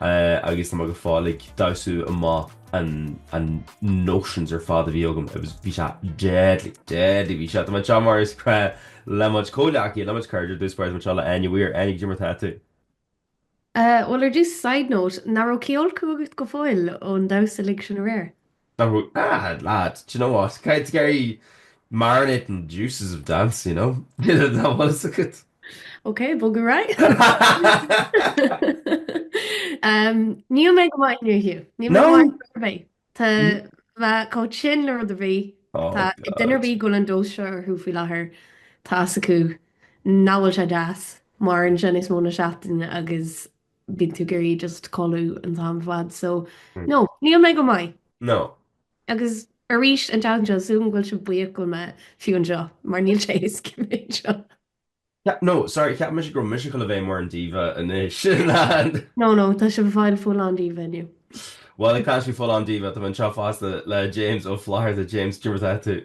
agus tá mé go fóill ag damhsa amach an an notions ar fad a bhí agam, it was, bhí sé deadly, deadly bhí sé, tá mé anseo mar is gnách le mo chuid comhghleacaithe, le mo chuid cairde ar dtús báire tá mé anseo le Áine Weir, Áine cad é mar atá tú. Bhuel ar dtús, side note, nach raibh cithfholcadh agat go fóill ón damhsa uilig sin aréir? Nach bhfuil? Ah, lad, do you know what, just ag iarraidh marinate in the juices of dance, you know? Tá a fhios agat. Ok, ag bogadh ar aghaidh. Níl mé go maith inniu, Hugh. Níl mé go maith inniu ar bith. Tá mé chomh tinn le rud ar bith. Oh god. Duine ar bith go bhfuil an dose seo orthu faoi láthair, tá fhios acu nach bhfuil sé deas maireann sé níos mó ná seachtain agus bíonn tú ag iarraidh just codladh an t-am ar fad so no, níl mé go maith. No. Agus arís, an tseachtain seo, tá súil agam go bhfuil sibh buíoch go bhfuil mé fiú anseo mar níl sé éasca bheith anseo. No, sorry, cheap mise go raibh mise chun a bheith mar an diva anois, an? No, no, tá sibh ag fáil full-on diva inniu. Bhuel, ag taispeáint full-on diva, tá mé anseo fosta le James Ó Flaithearta, James, cad é mar atá tú?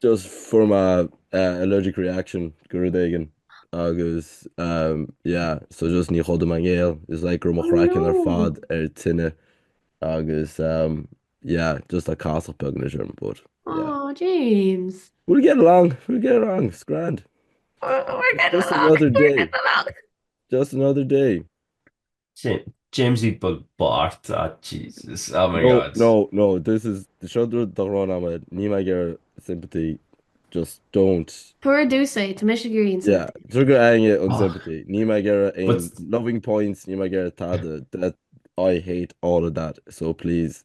Just from a allergic reaction go rud éigin agus yeah so just ní chodum a ngéill is like go raibh mo chraiceann ar fad ar tine agus yeah just like casach beag anois orm but yeah. Aww James. We'll get along we'll get along it's grand. We're getting along we're getting along. Just another day. James Eat Bug Bart ah Jesus oh my god. No no no this is seo rud do ghráin am ahead níl mé ag iarraidh sympathy just don't. Tabhair domsa é tá mise ag iarraidh an sympathy. Tá mise ag iarraidh an sympathy níl mé ag iarraidh aon loving points níl mé ag iarraidh tada that I hate all of that so please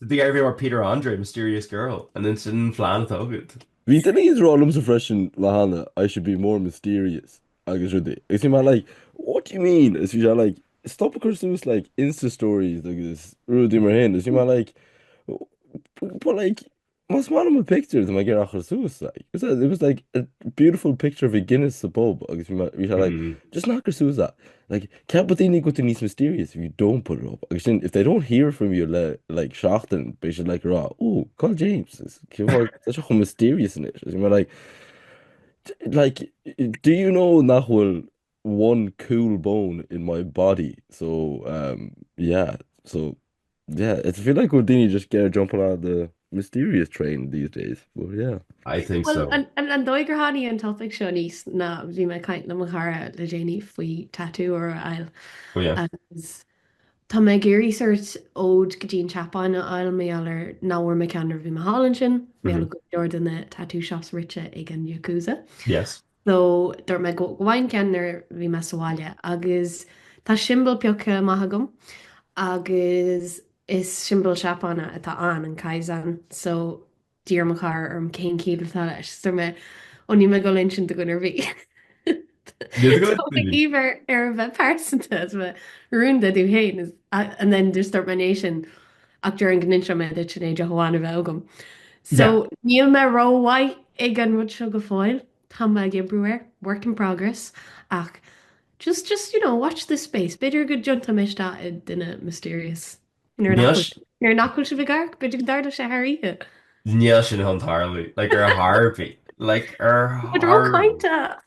Did they ever hear about Peter Andre, Mysterious Girl? An é sin an plean atá agat? Bhí duine ag rá liomsa freisin an lá cheana, I should be more mysterious agus rudaí. Agus bhí mé like, what do you mean? Agus bhí sé like, stop ag cur suas like Insta stories agus rudaí mar shin. Agus bhí mé like, but like, Más maith liom an pictiúr, tá mé ag iarraidh é a chur suas. Like. It was, it was like a beautiful picture of a Guinness sa pub agus bhí mé- bhí sé like, Mhm. just ná cuir suas that. Like, ceapfaidh daoine go bhfuil tú níos mysterious if you don't put it up. Agus ansin, if they don't hear from you le like, seachtain, beidh siad like, ag rá, oh, cá bhfuil James. Is- cé bhfáth- Tá sé chomh mysterious anois. Agus bhí mé like, like, do you know nach bhfuil one cool bone in my body so um yeah so yeah it's I feel like go bhfuil daoine just kind of jumping onto the mysterious train these days but yeah. I think so. Bhuel, an dóigh gur tháinig an topaic seo aníos ná bhí mé ag caint le mo chara le déanaí faoi tatú a fháil agus tá mé ag iarraidh sórt óid go dtí an tSeapáin a fháil, mar gheall ar nach bhfuair mé ceann nuair a bhí mé thall ansin, mar gheall go bhfuil go leor de na tattoo shops rite ag an Yakuza. Yes. So, dúirt mé go bhfaighinn ceann nuair a bhí mé sa bhaile agus tá siombail pioctha amach agam agus is siombail Seapáine atá ann, an kaizen. So, d'iarr mo chara orm cén chiall atá leis. So, dúirt mé, oh, níl mé ag dul a insint do dhuine ar bith. Bhí mé ag iarraidh é a bheith pearsanta, is é rúnda domh féin, and then just dúirt mé é sin. Ach déarfainn go ndéanfaidh mé duit sin é, deoch amháin a bheith agam. So, níl mé rómhaith ag an rud seo go fóill, tá mé ag obair air, work in progress, ach just, just, you know, watch this space, b'fhéidir go dtiontóidh mé isteach i duine mysterious. Nuair nach bhfuil sibh ag amharc, b'fhéidir go dtarlóidh sé thar oíche. Níl sin chun tarlú, like, ar chor ar bith. Like, ar chor ar bith. Tá tú róchainteach!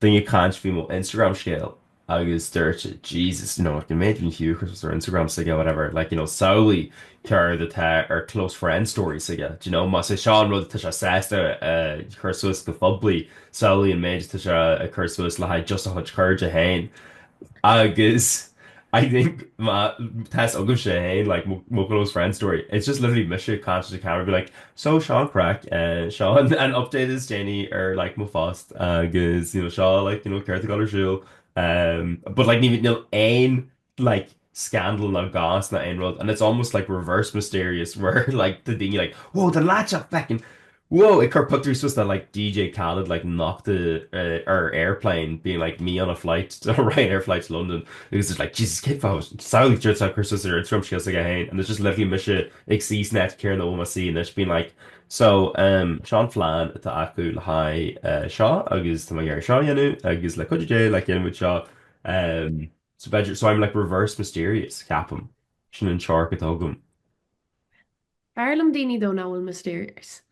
Duine ag caint faoi mo Instagram scéal agus dúirt Jesus you know an méid a chuir Séamus ar Instagram s'aige whatever like you know samhlaigh céard atá ar close friends story s'aige d'you know más é seo an rud atá sé sásta a chur suas go poiblí samhlaigh an méid atá sé ag cur suas le haghaidh just a chuid cairde féin Agus I think má tá's agaibhse féin, like, mo, mo close friend story, it's just literally mise ag caint sa camera being like, so seo an craic, eh, seo an, an update is déanaí ar, like, mo phost agus, you know, seo, like, you know, céard atá ar siúl, eh, but like ní, níl aon, like, scandal ná goss ná aon rud and it's almost like reverse mysterious where like tá daoine like wow tá an lad seo feckin wow ag cur pictiúr suas nó like DJ Khaled like nochta ar airplane being like me on a flight on a Ryanair flight to London agus it's like Jesus cén fáth is samhlaigh céard atá sé ag cur suas ar Instagram close aige féin and it's just literally mise ag suí san áit chéanna a bhfuil mé suí anois being like so um seo an plean atá agam le haghaidh seo agus tá mé ag iarraidh seo a dhéanamh agus le cúnamh Dé like déanfaimid seo um. So b'fhéidir, so I'm like reverse mysterious, ceapaim. Sin an teoiric atá agam. B'fhearr liom daoine nach bhfuil mysterious.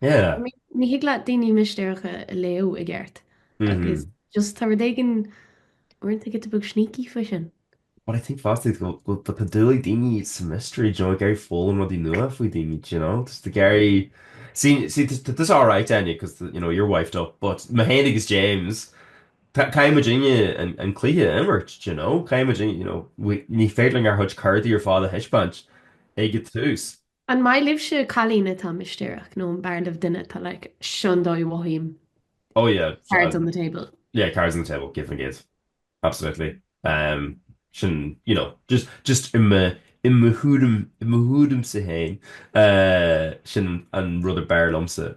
Yeah. I mean, ní thig leat daoine mistéireacha a léamh i gceart. Like, is just, tá rud éigin, rud éigin beag sneaky faoi sin? But I think fosta go bhfuil, tá, tá dúil ag daoine sa mystery, do you know, ag iarraidh foghlaim rudaí nua faoi dhaoine, do you know? Tá siad ag iarraidh, see, see, tá, tá, tá tusa alright, Áine, because, you know, you're wifed up, but mé féin agus James, Caithfidh muidinne an cluiche a imirt, do you know, caithfidh muidinne, you know, ní féidir linn ár gcuid cártaí ar fad a thaispeáint ag an tús. An maith libhse cailín atá mistéireach nó an b'fhearr libh duine atá like seo an dóigh a mhothaím Oh yeah, cards on the table. yeah, cards on the table, céad faoin gcéad, absolutely, ehm, sin, you know, just, just i mo, i mo thuairim, i mo thuairimse féin, eh, sin an rud ab fhearr liomsa.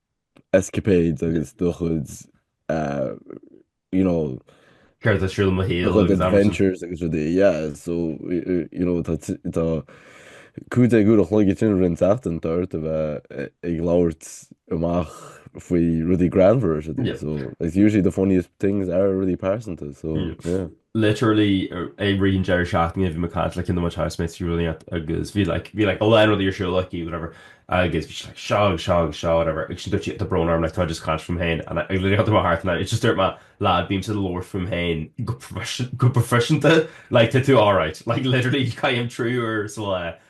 escapades agus do chuid you know. Céard a thriail mo shaol agus amharsan. adventures agus rudaí yeah so you know tá tá cúig uair an chloig á dhéanamh i rith na seachtaine tá ort a bheith ag labhairt amach faoi rudaí greannmhar is rudaí so it's usually the funniest things are rudaí pearsanta so yeah. literally i rith an deireadh seachtaine bhí mé ag caint le duine de mo chuid housemates aréir leat agus bhí like bhí like a lán rudaí ar siúl like whatever agus bhí like seo agus seo agus seo whatever agus ansin dúirt sí tá brón orm like táim just ag caint fúm féin and I literally had to my heart and I just dúirt mé lad bímse ag labhairt fúm féin go go proifisiúnta like tá tú alright like literally caithim trí uair sa lá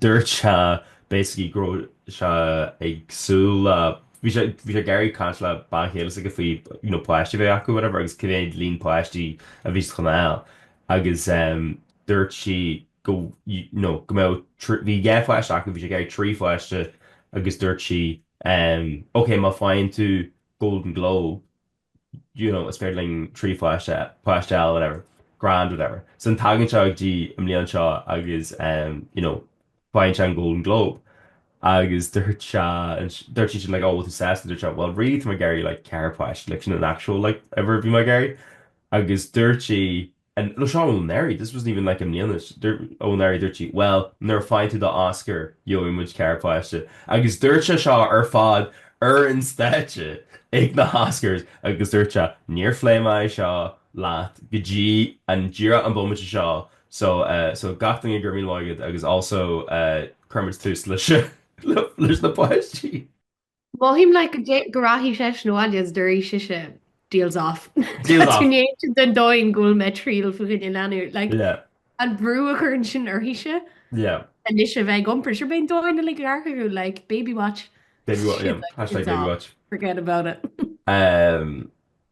Dúirt sé basically go raibh sé ag súil le, bhí sé, bhí sé ag iarraidh caint le bean chéile s'aige faoi you know páistí a bheith acu whatever agus cé mhéad líon páistí a bhí sa choinneal agus em dúirt sí go you know go mbeadh trí, bhí dhá pháiste acu, bhí sé ag iarraidh trí pháiste agus dúirt sí em ok má faigheann tú Golden Globe, you know, is féidir linn trí pháiste, páiste eile, whatever, grand, whatever. So an tagann seo go dtí an mbliain seo agus ehm, you know, faigheann sé an Golden Globe agus dúirt sé, dúirt seisean like, oh, what is this? Dúirt sé, well, really, tá mé ag iarraidh like ceithre páiste, like sin an actual like uimhir a bhí mé ag iarraidh. Agus dúirt sí, and no seo ó anuraidh this wasn't even like i mbliana seo ó anuraidh dúirt sí bhuel nuair a faigheann tú do Oscar gheobhaidh muid ceithre páiste agus dúirt sé seo ar fad ar an stáitse ag na hOscars agus dúirt sé níor phléigh mé é seo leat go dtí an díreach an bomaite seo so so gach duine go raibh míle maith agat agus also cuirfimid tús leis na páistí. Mothaím, like, go rachaidh seisean abhaile is déarfaidh sise, deal's off. Deal's off. Cad é an dóigh go bhfuil mé triail faoi choinne leanbh, like, yeah. an brú a chuireann sin uirthise. Yeah. Anois a bheith ag iompar for sure. Beidh an domhan uilig ag amharc, like baby watch. Baby watch, yeah. Hashtag baby watch. Forget about it. um,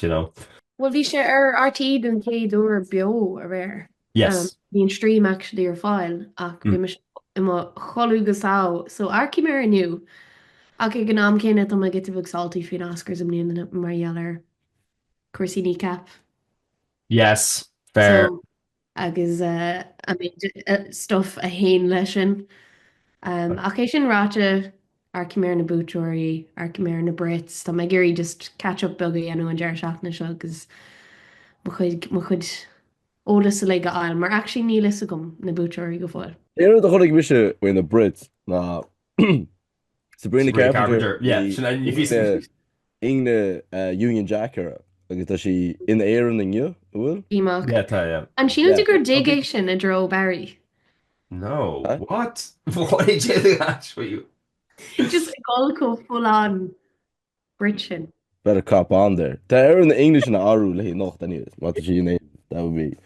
you know. Bhuel bhí sé ar RTÉ den chéad uair beo aréir. Yes. Bhí an stream actually ar fáil ach bhí mise i mo chodladh go sámh so amharcfaidh mé air inniu ach ag an am céanna tá mé giota beag salty faoin Oscars i mbliana mar gheall ar cúrsaí Kneecap. Yes, fair. So agus an méid stuif a théann leis sin. Ach é sin ráite, amharcfaidh mé ar na buaiteoirí, amharcfaidh mé ar na Brits, tá mé ag iarraidh just catch-up beag a dhéanamh an deireadh seachtaine seo agus mo chuid, mo chuid eolas uilig a fháil, mar actually níl a fhios agam na buaiteoirí go fóill. Aon rud a chonaic mise faoi na Brits ná. Sabrina Carpenter, ní fios. ingne Union Jack uirthi agus tá sí in Éirinn inniu, an bhfuil? í Mac. Yeah, tá, yeah. An síleann tú gur dig é sin i dtreo Barry? No, what? Why did you ask me? Just ag dul chomh folláin Brid sin. Better cop on there. Tá Erin na English ina arú léi anocht anyways, má tá sí in Éirinn, that would be.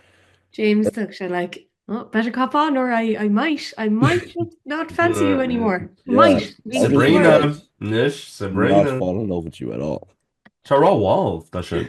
James, thug sé like, oh, better cop on or I I might, I might not fancy you anymore. Might. Yeah. Sabrina, anois, Sabrina. Not fall in love with you at all. Tá rá 'bhall' do sin.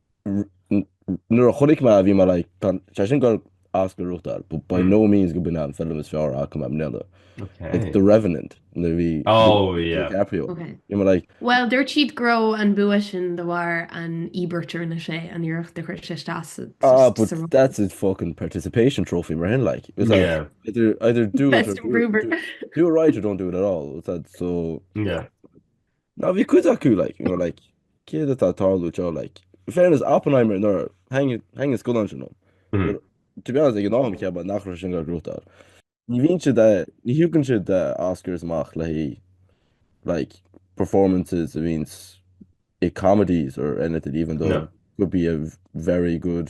Nuair a chonaic mé é bhí mé like tá sé sin gur as go ruathtar but by no means gurb é an film is fearr a chonaic mé i mbliana like The Revenant nuair a bhí DiCaprio bhí mé like. Bhuel dúirt siad go raibh an bua sin de bharr an íobairt ar an 6 an iarracht a chuir sé isteach sa ról. Ah but that's his fucking participation trophy mar sin like is ea either either do it or do it right or don't do it at all so yeah. Ní, bhí cuid acu, like, you know, like, céard atá ag tarlú anseo, like, in fairness, Oppenheimer, nuair a tháinig, tháinig an scannán sin, but, to be honest, ag an am cheap mé nach raibh sé sin ag goil ag gnóthachtáil. Ní bhíonn siad a, ní thugann siad na Oscars amach le haghaidh, like, performances a bhíonn i comedies or anything, even though it could be a very good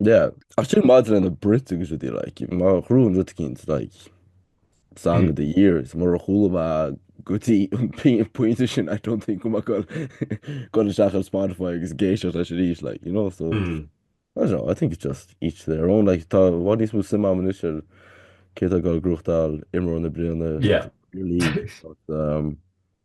Yeah. Ach sin maidir leis na Brits agus rudí like, má ghnóthaíonn rud eicínt like, song of the year, is murar chuala mé go dtí an pí- pointe sin, I don't think go mbeidh mé ag goil isteach ar Spotify agus ag éisteacht leis arís, like, you know, so, I don't know, I think it's just each to their own, like, tá i bhfad níos mó suim a'm anois ar cé atá ag goil ag gnóthachtáil imreoir na bliana, Yeah. Premier League, but, um,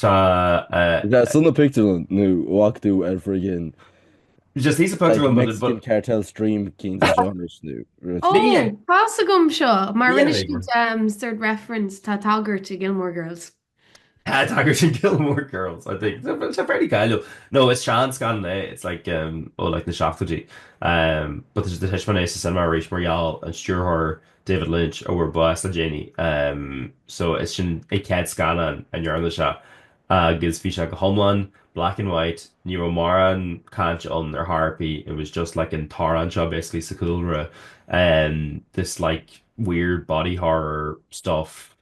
Tá. Bheith sa bpictiúrlann nó bheadh tú ar friggin Just see sa pictiúrlann but Mexican but cartel stream cinn de genres nó rud. Ó, Bhí fhios agam seo, mar rinne Bhí ar. siad sort reference, tá tagairt i Gilmore Girls. Tá tagairt i Gilmore Girls, I think. Tá sé fairly cáiliúil. No, is seanscannán é, it's like ó like na seachtóidí. But tá sé á thaispeáint sa cinema arís mar gheall ar an stiúrthóir David Lynch a fuair bás le déanaí. So is sin an chéad scannán a ndearna sé agus bhí sé go hiomlán black and white, ní raibh mórán caint ann ar chor ar bith, it was just like an t-amhrán seo basically sa chúlra, this like weird body horror stuff.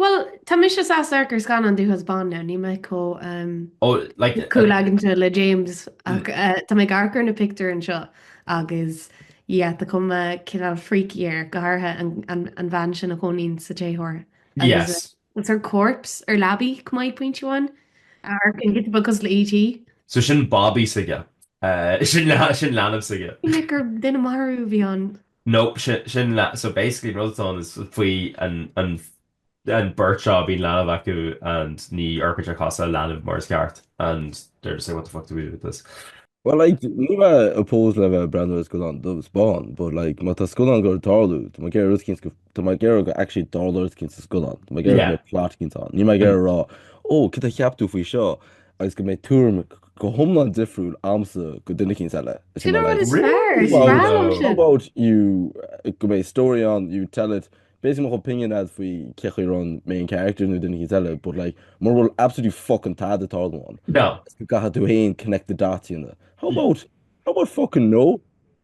Bhuel, tá mise saghas amharc ar scannán dubh agus bán now, níl mé chomh Oh, like the, caolaigeanta le James ach tá mé ag amharc ar na pictiúir anseo agus yeah, tá cuma cineál freaky air, go háirithe an bhean sin a chónaíonn sa téitheoir agus yes. what's her corpse ar leabaí, come I point you on, a amharcann giota beag cosúil le E.T. So sin babaí s'aige. Eh, sin leanbh s'aige. Ní minic gur duine maith arú a bhí ann. No, sin, sin leanbh, so basically an rud atá ann is faoi an, an, an beirt seo bíonn leanbh acu and ní fhorbaítear a gcorp sa leanbh mar is ceart and they're just like what the fuck do we do with this? Well like níl mé opposed le bheith breathnú ar scannán dubh is bán but like má tá scannán ag goil ag tarlú tá mé ag iarraidh rud éicint go Tá mé ag iarraidh go actually dtarlódh rud eicínt sa scannán, Tá mé ag iarraidh go mbeidh plot eicínt ann. Níl mé ag iarraidh a rá, ó, céard a cheap tú faoi seo agus go mbeidh tuairim go hiomlán difriúil a'msa go duine eicínt eile. Is mé le about you go mbeidh story ann, you tell it Bas mo opinion a'd faoi cé chaoi a ndearna mé an character nó duine eile, but like mura bhfuil absolutely fuckin' tada ag tarlú. No. go gcaithfidh tú féin connect the dotanna. How about how about fuckin' no?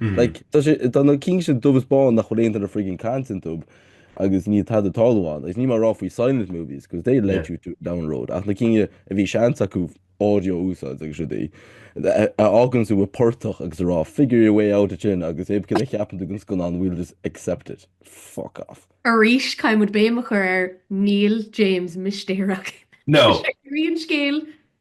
Like, Mm. tá sé, tá na cinn sin dubh is bán nach bhfuil aon duine friggin caint iontu agus níl tada tarlú ann. Agus níl mé ag rá faoi silent movies, because they led Yeah. you to down a road. Ach na cinn a bhí seans acu audio a úsáid agus rudaí, a a fhágann tú i portach agus a rá figure your way out as sin agus 'bé cén cheapann tú den scannán we'll just accept it. Fuck off. Arís, caithfidh muid béim a chur ar Níl James mistéireach. No. Sé rí an scéil,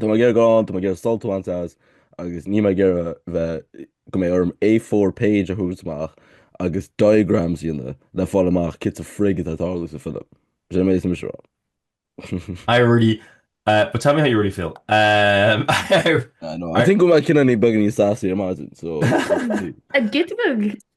Tá mé ag iarraidh gabháil ann, tá mé ag iarraidh sult a bhaint as agus níl mé ag iarraidh bheith, go mbeidh orm A4 page a thabhairt amach agus diagrams a dhéanamh le fáil amach céard sa frig atá ag tarlú sa film. Sin an méid atá mise a rá. I really, eh, but tell me how you really feel. Em, I know, I think go mbeadh cinn ann a bheadh beagan níos sásúla ar maidin, so. An git bug?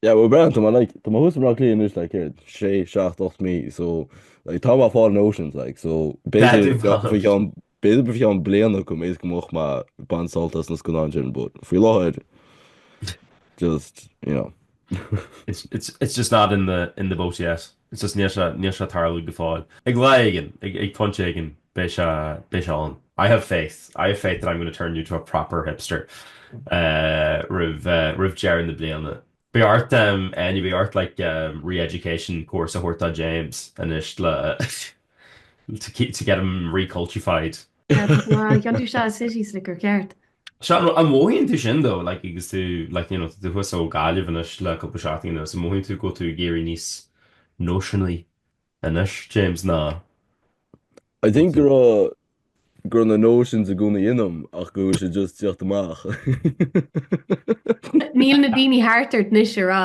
Yeah, we're grand, tá mé like, tá mé thuas i mBleá Cliath anois like, céard, sé, seacht, ocht mí, so like, tá mé ag fáil notions like, so Beidh tú basically faoi cheann b'fhéidir faoi cheann bliain eicínt measaim go mbeidh mé ag baint sult as na scannáin sin, but faoi láthair just, you know. It's, it's, it's just not in the, in the boat yet. It's just, níl sé, níl sé ag tarlú go fóill. ag lá éigin, ag, ag pointe éigin beidh sé, beidh sé ann. I have faith, I have faith that I'm going to turn you to a proper hipster roimh, roimh deireadh na bliana. Beidh ort em, Áine, beidh ort like em re-education course a thabhairt do James anois le to keep, to get him re-cultified. Bhuel, tá tú i do City Slicker, ceart? Seán, Well, an mothaíonn tú sin dó, like, agus tú, like, you know, tú thuas ó Gaillimh anois le cúpla seachtaín anuas, an mothaíonn tú go bhfuil tú ag éirí níos nóiseanaí anois, James, nó I think go raibh, go raibh na notions i gcónaí ionam ach go bhfuil sé just ag tíocht amach. Níl na daoine thart ort anois a rá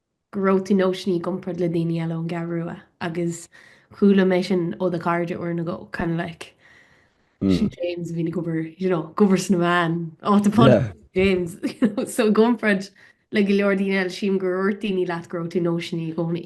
go raibh tú notiony i gcomparáid le daoine eile ón gCeathrú Rua agus chuala mé sin ó do chairde uair nó dhó kind of like sin James a bhíonn ag obair you know ag obair sna meáin áit up on James so i gcomparáid le go leor daoine eile sílim go ndúirt daoine leat go raibh tú notiony i gcónaí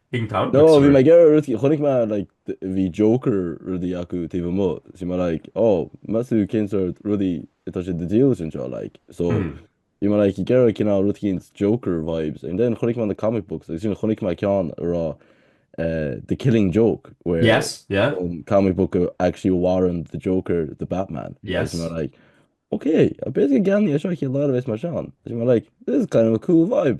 Bíonn tamall nó bhí mé ag iarraidh rudaí, chonaic mé like bhí joker rudaí acu taobh amuigh so bhí mé like oh meas tú cén sórt rudaí atá siad ag díol leis anseo like so bhí mé like ag iarraidh cineál rud eicínt joker vibes ansin chonaic mé na comic books agus ansin chonaic mé ceann a raibh the killing joke where yes yeah an comic book a actually a mharaíonn the joker the batman yes bhí mé like ok bit ag geansaí é seo chéad lá a bheas mar seán bhí mé like this is kind of a cool vibe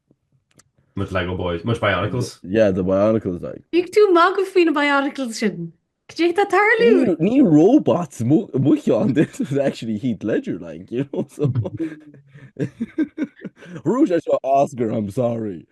Mo chuid Lego boys. Mo chuid bionicles. Yeah, the bionicles, like. Bíonn tú ag magadh faoi na bionicles sin! Cad é atá ag tarlú? Ní robots mucker this, it was actually Heath Ledger, like, you know, so. Bhuaigh sé seo Oscar, I'm sorry.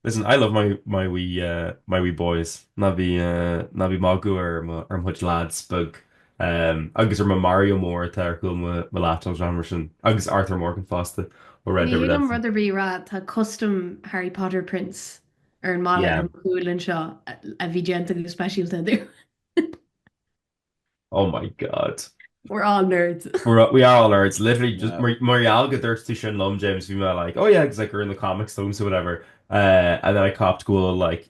Listen, I love my wee boys. Ná bí ag magadh ar mo chuid lads beag Agus ar mo, Mario mór atá ar chúl mo laptop agus rudaí mar sin. Agus Arthur Morgan fosta ó Red Dead Redemption. Níl mé rud ar bith a rá, tá custom Harry Potter prints ar an mballa ar mo chúl anseo a bhí déanta go speisialta dom. Oh my God. We're all nerds. We are all nerds. Literally just mar gheall go ndúirt tú sin liom James bhí mé like oh yeah cos like we're in the comics so whatever and then I copped go bhfuil like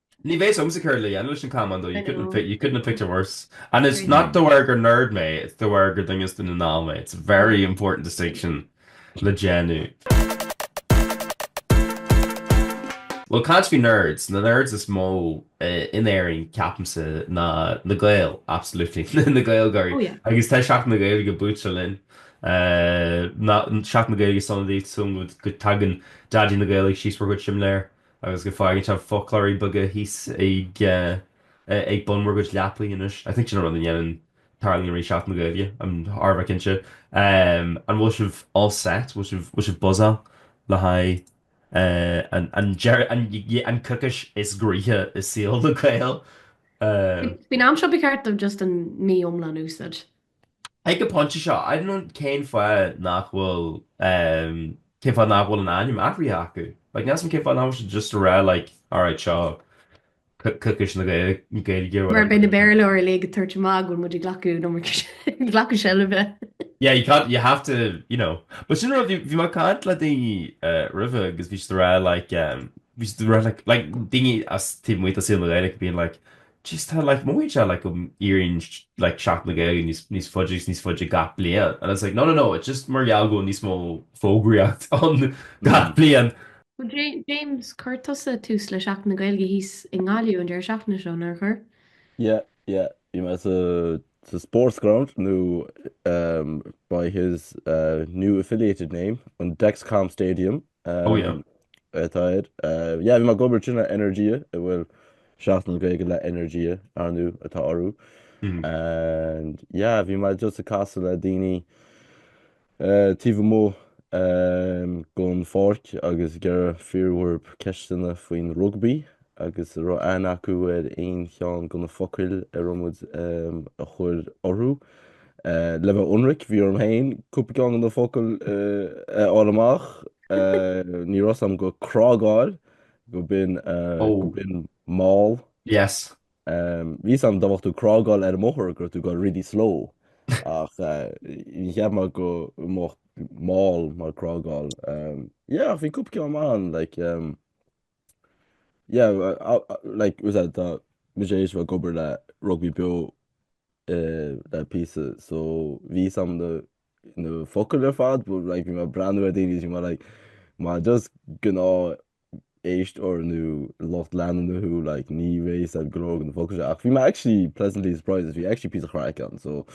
Ní bheidh 's agamsa céard le dhéanamh leis an camán though, you couldn't fit, you couldn't have picked a worse. And it's not de bharr gur nerd mé, it's de bharr gur duine gan anáil mé. It's a very important distinction le déanamh. Bhuel, caint faoi nerds, na nerds is mó in Éirinn, ceapaimse, ná na Gaeil, absolutely, na Gaeilgeoirí. Agus tá Seachtain na Gaeilge buailte linn. Seachtain na Gaeilge sona daoibh, súil agam go dtagann Daidí na Gaeilge síos bhur gcuid simléar agus go bhfaigheann sibh foclóirí beaga thíos ag bun bhur gcuid leapaí anois. I think sin an rud a ndéanann, tarlaíonn arís Seachtain na Gaeilge, I mean thar a bheith cinnte. An bhfuil sibh all set, bhfuil sibh, bhfuil sibh buzzáil le haghaidh an deireadh, an, yeah, an coicís is groí i saol na nGael? Faoin am seo ba cheart dom just an mí iomlán a úsáid. Ag an phointe seo, I don't know cén fáth nach bhfuil, em, cén fáth nach bhfuil an ainm athraithe acu. Like, níl 's a'm cén fáth nach bhfuil siad just a' rá like, alright, seo co- coicís na Gae- na Gaeilge or whatever. Mar beidh na Béarlóirí uilig ag tabhairt amach go bhfuil muid ag glacadh an iomarca sin, ag glacadh seilbhe. Yeah, you can't, you have to, you know. But sin rud, bhí, bhí mé ag caint le daoine eh, roimhe agus bhí siad a' rá like, em, bhí siad a' rá like, like daoine as taobh amuigh de saol na Gaeilge being like, Just how like mór i ndiaidh like go éiríonn like Seachtain na Gaeilge níos faide agus níos faide gach bliain and it's like no no no it's just mar gheall go bhfuil níos mó fógraíocht ann gach bliain. Bhuel J James chuir tusa tús le Seachtain na Gaeilge thíos i nGaillimh an deireadh seachtaine seo, nár chuir? Yeah yeah bhí mé sa sa sports ground nó umm by his umm new affiliated name an Dexcom Stadium. Oh yeah. atá air. Yeah, bhí mé ag obair le Energia, a bhfuil seachtain na Gaeilge le Energia arnú atá orthu. Mm. And yeah, bhí mé just ag casadh le daoine eh, taobh amuigh eh, den pháirc agus ag iarraidh fíor nó bréag ceisteanna faoin rugbaí agus an raibh aithne acu ar aon cheann de na focail a raibh muid a chur orthu. Le bheith ionraic, bhí orm féin cúpla ceann de na focail a fháil amach. Ní raibh a fhios a'm gur crágáil gurb in mall. Bhí a fhios a'm dá mbeadh tú ag crágáil ar an mbóthar go raibh tú ag goil really slow ach níor cheap mé go mba mall, maul crágáil. Yeah, ach bhí cúpla ceann maith ann like Yeah, like we said, tá muid théis bheith ag obair le rugbaí beo eh, le píosa, so bhí 's a'm na, na focail ar fad, but like bhí mé ag breathnú ar daoine, bhí mé like, más just gnáthéisteoir nó lucht leanúna thú, like ní raibh 's a'm go leor dhe na focail seo, ach bhí mé actually pleasantly surprised, bhí sé actually píosa craic ann, so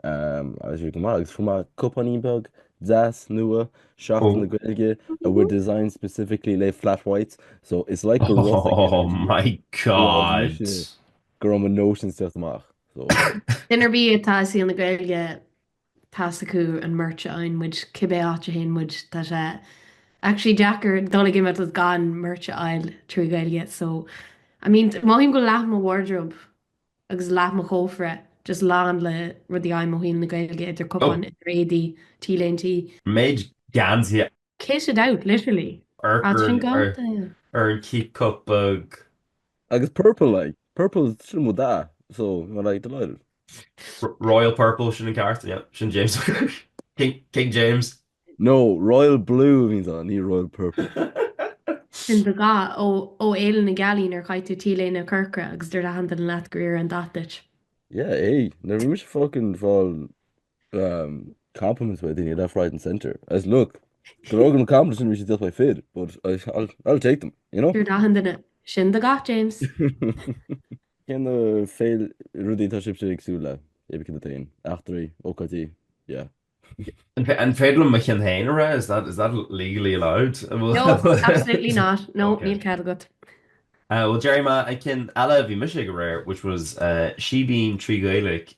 um, agus bhí go maith, agus fuair mé cupáinín beag deas nua, uh, Seachtain na Gaeilge, a were designed specifically le flat whites, so it's like Oh my god! go raibh mo notions ag teacht amach. So. Duine ar bith atá i saol na Gaeilge, tá s'acu an merch a fhaigheann muid cibé áit a théann muid, tá sé actually deacair dul ag imeachtaí gan merch a fháil trí Ghaeilge, so I mean, mothaím go bhfuil leath mo wardrobe agus leath mo chófra just lán le rudaí, um, ó thaobh na Gaeilge, idir cupáin, idir éadaí, T-léintí, an méid geansaí. kitted out, literally! As sin go. ar an cheap cup beag. Agus purple like, purple sin mo dath so I'm like delighted. royal purple sin an ceart yeah sin James King James. No, royal blue a bhíonns ann, ní royal purple. Sin do dhath ó Fhéile na Gealaí nuair a chaith tú T-léine chorcra agus dúirt achan duine leat gur fhóir an dath duit. Yeah, hey, nuair a bhí mise fucking fáil compliments ó dhaoine left, right and centre. I was like, go raibh maith agat, na compliments sin bhí siad ag cur, b'fhéidir, but I'll take them, you know? Dúirt achan duine, sin do dhath James. Cé na rudaí atá sibhse ag súil le, aon cheann daoibh féin? Imeachtaí? Ócáidí? Yeah. An féidir liom mo cheann féin a rá? Is that legally allowed? No, absolutely not. No, níl cead agat. Bhuel, déarfaidh mé an ceann eile a bhí mise ag aréir, which was Síbín trí Ghaeilge,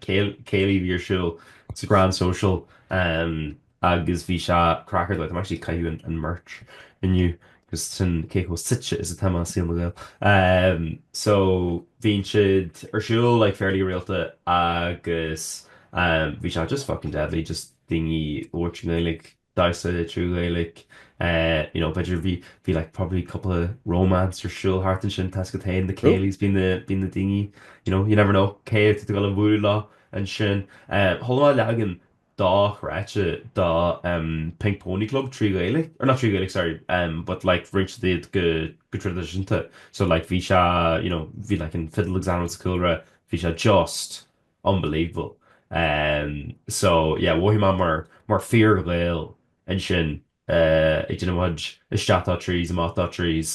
céilí a bhí ar siúl sa Grand Social agus bhí sé craic ar dóigh. Táim actually ag caitheamh an merch inniu. agus sin cé chomh suite is atá mé i saol na nGael. So, bíonn siad ar siúl like fairly rialta agus bhí sé just fucking deadly just daoine ag labhairt i nGaeilg, damhsa trí Ghaeilg, you know b'fhéidir bhí bhí like probably cúpla romance ar siúl thart ansin toisc go dtéann na céilí's, bíonn na bíonn na daoine, you know, you never know cé atá tú ag dul a bhualadh leo ansin. Chuala mé leagan dá chráite dá Pink Pony Club trí Ghaeilge, or not trí Ghaeilge sorry but like rinne siad go traidisiúnta so like bhí sé you know bhí like an fiddle ag seinm sa chúlra bhí sé just unbelievable so yeah mhothaigh mé mar mar fhíor-Ghael ansin ag déanamh mo isteach dó trís amach dó trís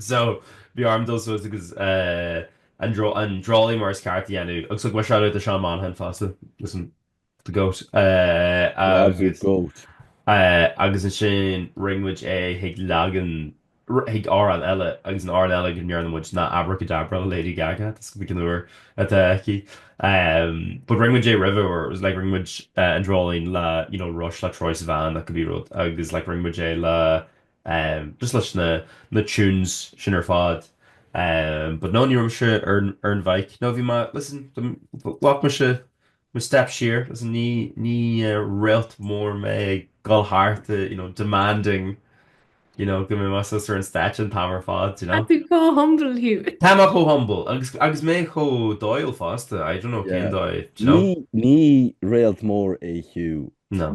So, bhí orm dul suas agus an dreoilín mar is ceart é a dhéanamh agus thug mé seoladh do Seán Monaghan fosta, listen, the goat, agus agus ansin rinne muid é chuig leagan, chuig amhrán eile agus an t-amhrán eile go ndearna muid ná Abracadabra le Lady Gaga, that's like an uair atá ag teacht, but rinne muid é roimhe or it was like rinne muid an dreoilín le, you know, Rush le Troye Sivan nó cibé rud agus like rinne muid é le, just leis na, na tunes sin ar fad. But no, ní raibh mise ar, ar an bhike. No, bhí mé, listen, ghlac mise mo step siar, listen, ní, ní réalt mór mé ag dul thart, you know, demanding, you know, go mbeidh mé suas ar an stáitse an t-am ar fad, you know. Tá tú chomh humble thú. Tá mé chomh humble, agus, agus mé chomh dóighiúil fosta, I don't know yeah. cén dóigh, you know. Ní, ní réalt mór é Hugh. No.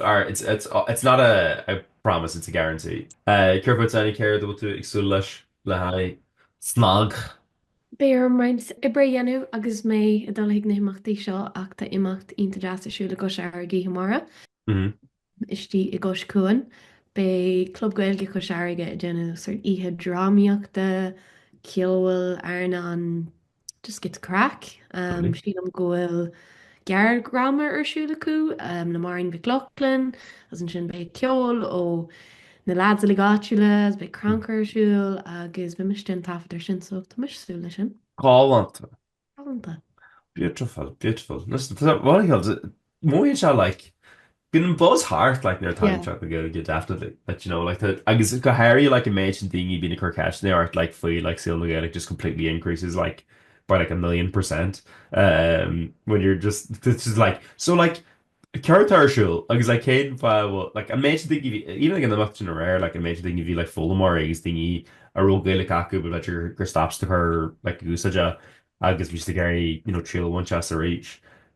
or it's it's it's not a a promise it's a guarantee céard bhfuil déanamh céard a bhfuil tú ag súil leis le haghaidh snag? Beidh orm roinnt oibre a dhéanamh agus mé ag dul chuig na himeachtaí seo ach tá imeacht iontach deas ar siúl i gCois Fharraige oíche amárach istigh i gCois Cuain. Beidh Club Gaeilge Chois Fharraige ag déanamh sort oíche drámaíochta, ceoil, airneáin, Just giota craic. Sílim go bhfuil gearrdhráma ar siúl acu le Máirín Mhic Lochlainn, agus ansin beidh ceol ó na lads uilig áitiúla, agus beidh crannchur ar siúl agus beidh mise ag déanamh taifead air sin so tá mise ag súil leis sin. Galánta. Galánta. Beautiful, beautiful. Listen, tá rud, an ceol, Mhór iad seo like. Bíonn an buzz thart like nuair atá Seachtain na Gaeilge definitely like do you know like agus go háirithe like an méid sin daoine a bhíonn ag cur ceisteanna ort like faoi like saol na Gaeilge just completely increases like by like a million percent um when you're just it's just like so like céard atá ar siúl agus like cén fáth a bhfuil like an méid sin daoine a bhí even like an imeacht sin aréir like an méid sin daoine a bhí like foghlaimeoirí agus daoine a raibh Gaeilge acu but like gur stop siad ag cur like úsáid as agus bhí siad ag iarraidh you know triail a bhaint as arís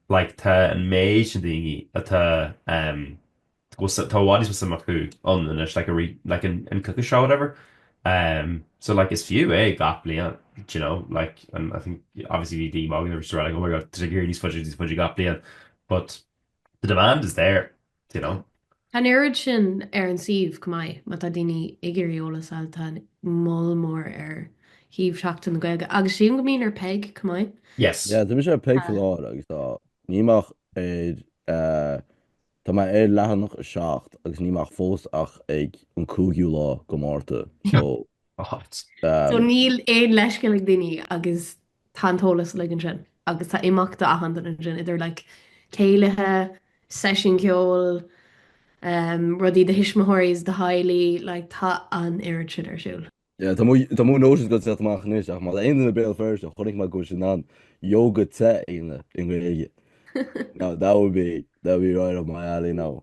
like tá an méid sin daoine atá em agus tá i bhfad níos mó suim acu ann anois like a re like an an Kneecap show whatever em so like is fiú é gach bliain d'you know like and I think obviously bhí daoine ag magadh agus ag rá like oh my god tá siad ag éirí níos faide níos faide gach bliain but The demand is there, you know. Tá an oiread sin ar an suíomh, chomh maith, má tá daoine ag iarraidh eolas a fháil, tá moll mór ar shuíomh Sheachtain na Gaeilge, agus sílim go mbíonn ar Peig, chomh maith. Yes. Yeah, tá mise ar Peig faoi láthair agus tá, níl mé ach ar, tá mé ar leathanach a seacht agus níl mé ach fós ach ag an cúigiú lá de Márta, so. So níl aon leithscéal ag daoine agus tá an t-eolas uilig ansin agus tá imeachtaí do achan duine ansin, idir like céilithe, seisiúin ceoil, em, rudaí do thuismitheoirí is do theaghlaigh, like tá an oiread sin ar siúl. Yeah, tá mo, tá mo notions go seacht amach anois ach má tá aon duine i mBéal Feirste chonaic mé go bhfuil sin ann yoga te Aoine i nGaeilge. Now that would be that would be right up my alley now.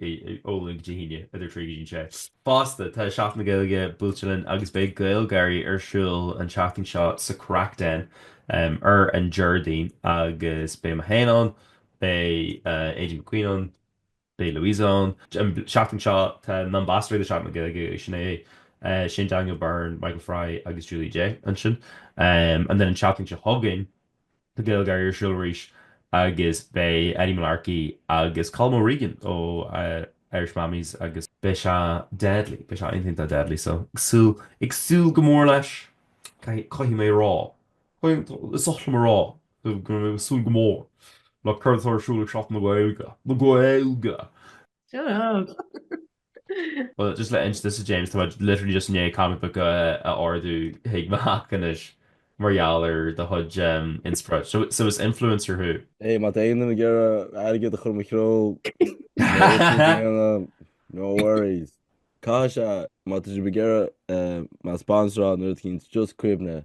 ó Luan go hAoine idir 3 go dtí 6. Fosta, tá Seachtain na Gaeilge buailte linn agus beidh GaelGÁIRÍ ar siúl an tseachtain seo sa Craic Den ar an Déardaoin agus beidh mé féin ann, beidh Aideen McQueen ann, beidh Louise ann. An tseachtain seo, tá na ambasadóirí do Sheachtain na Gaeilge, Sinéad, Shane Daniel Byrne, Michael Fry agus Julie Jay ansin. And then an tseachtain seo chugainn, tá GaelGÁIRÍ ar siúl arís agus beidh Eddie Mullarkey agus Colm O'Regan ó Irish Mammies agus beidh sé deadly, beidh sé iontach deadly so ag súil, ag súil go mór leis, caithfidh mé a rá, is oth liom a rá go raibh mé ag súil go mór le cuid atá ar siúl ag Seachtain na Gaeilge, na Gaeilge! Bhuel, just le hinsint duit, James, tá muid literally just i ndiaidh comic book a ordú chuig mo theach anois mar gheall ar do chuid inspioráid. So, so is influencer thú? Hey, má tá aon duine ag iarraidh airgead a chur i mo threo, no worries. Cá bhfios, má tá sibh ag iarraidh mé a sponsoráil nó rud éigin, just cuimhnigh.